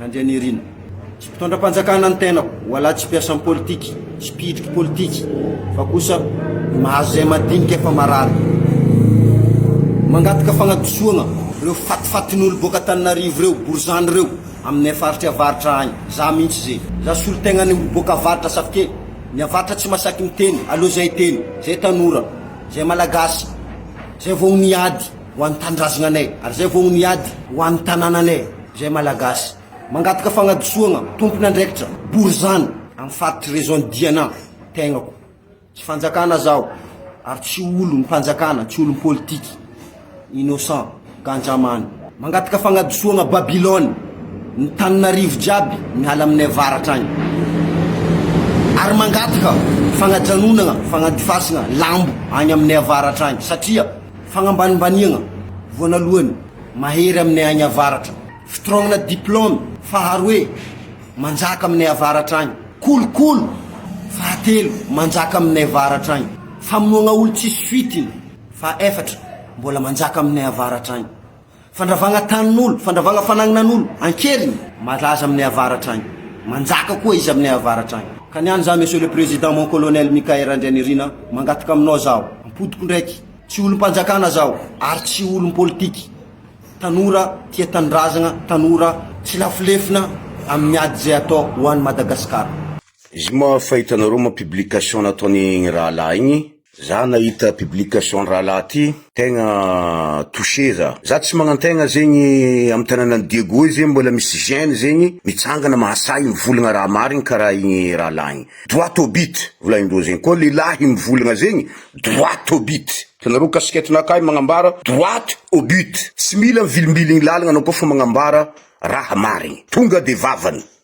Randrianirina. Tsy mpitondra-panjakana ny tenako, hoalahy tsy mpiasa amin'ny politika, tsy mpihitry politika, fa kosa mahazo izay madinika fa marary. Mangataka fagnadisoagna reo fatifatin'olo boaka Antananarivo reo, borizano reo, aminay faritry avaratra agny. Za mintsy ze. Za solontegnanay olo boaka avaratra safi ke ny avaratra tsy masaky miteny, aleo zay teny, zay tanora, zay malagasy, zay vao niady. Ho an'ny tanindrazananay, ary izay vao ho ny ady. Ho an'ny tanànanay, izay Malagasy. Mangataka fagnadisoagna, tompon'andraikitra, borizano, amin'ny faritry région Diana, tegnako. Tsy fanjakana zaho, ary tsy olo ny panjakana, tsy olon'ny politique. Innocent, Ganjamany. Mangataka fagnadisoagna Babylone, ny tanin'arivo jiaby miala aminay avaratra agny. Ary mangataka fagnajanognagna, fagnadifasagna lambo agny aminay avaratra agny, satria. Fagnambanimbaniagna voanalohany, mahery aminay agny avaratra. Fitrognana diplôme, faharoe, manjaka aminay avaratra agny. Kolokolo, fahatelo, manjaka aminay avaratra agny. Famonoagna olo tsisy fitiny, fahefatra, mbola manjaka aminay avaratra agny. Fandravagna tanin'olo, fandravagna fanagnanan'olo ankeriny. Malaza aminay avaratra agny. Manjaka koa izy aminay avaratra agny. Ka niany za Monsieur le Président mon Colonel Mickaël Randrianirina mangataka aminao zaho, ampodiko ndraiky, tsy olom-panjakana zaho ary tsy olom-politiky, tanora tia tanindrazagna, tanora tsy lafilefina amin'ny ady izay atao ho an'i Madagasikara. Zoma fa hitanareo moa publication nataony igny rahalahy igny? Za nahita publication rahalahy ty tegna touché za. Za tsy magnantegna zegny am tananan'i Diego io zegny mbola misy jeune zegny mitsangana mahasahy mivolagna raha marigny karaha igny rahalahy igny. Droit au but volagnindreo zegny. Koa lehilahy mivolagna zegny droit au but. Hitanareo casquette nakahy magnambara droit au but. Tsy mila mivilimbiligny lalagna anao koa fa magnambara raha marigny. Tonga de vavany.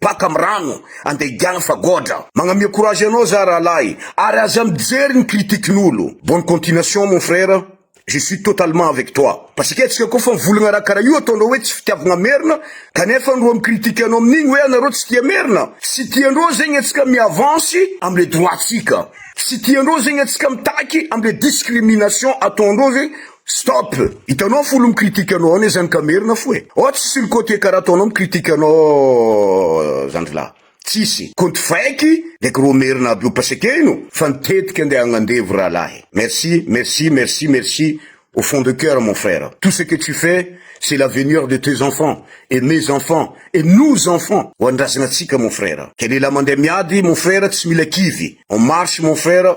Paka am rano ande higiana fa goadra. Magnamia courage anao za rahalahy ary aza mijery ny critique n'olo. Bonne continuation mon frère je suis totalement avec toi. Pasika tsika koa fa mivolagna raha karaha io ataondreo hoe tsy fitiavagna merina kanefa ndro am critique anao amin'igny hoe anareo tsy tia merina. Tsy tiandreo zegny atsika mi avance am le droit tsika. Tsy tiandreo zegny atsika mitaky am le discrimination ataondreo zegny Stop! Hitanao folo mi-critique anao ao nezany ka merina fo e! Ao tsisy sur côté karaha ataonao mi-critique anao zandrilahy. Tsisy. Compte fake le gros merina aby io pasekeno fa ny tetika ndeha agnandevo rahalahy. Merci, merci, merci, merci au fond de cœur mon frère. Tout ce que tu fais c'est l'avenir de tes enfants et mes enfants et nos enfants ho an'ny razana antsika mon frère. Ke lehilahy mandeha miady mon frère tsy mila kivy. On marche mon frère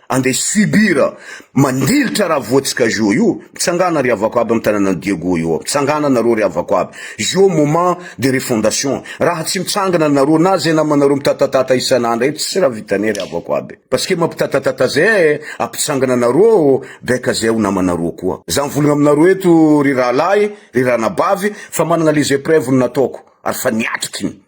Andeha subir mandilitra raha voatsika Jo io, mitsangana ry havako aby am tananan'i Diego io ao, mitsangana nareo ry havako aby, Jo moment de refondation, raha tsy mitsangana nareo na zay namanareo mitatatata isan'andro eo tsy raha vitanay ry havako aby, parce que mampitatatata zay eh, ampitsangana nareo ao baika zay ho namanareo koa, za mivolagna aminareo eto ry rahalahy, ry ranabavy fa managna les epreuves ny nataoko ary fa niatrikiny.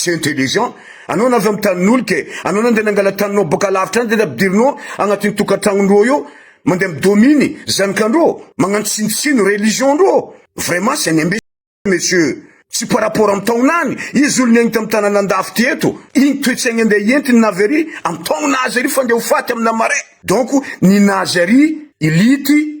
Tsy intelligent anao nareo amin'ny tanin'olo ke anao na ndeha nangala taninao boka lavitra any de nampidirinao agnatin'ny tokantragnondreo eo mandeha mi domine zanakandreo magnano tsinotsino religion ndreo vraiment c'est un imbécile monsieur tsy par rapport amin'ny taonany izy olo niaigny tamin'ny tanana andafy ty eto igny toetsaigny andeha hientiny na avy ary amin'ny taona azy ary fa ndeha ho faty amina marais donc ny nazy ary ility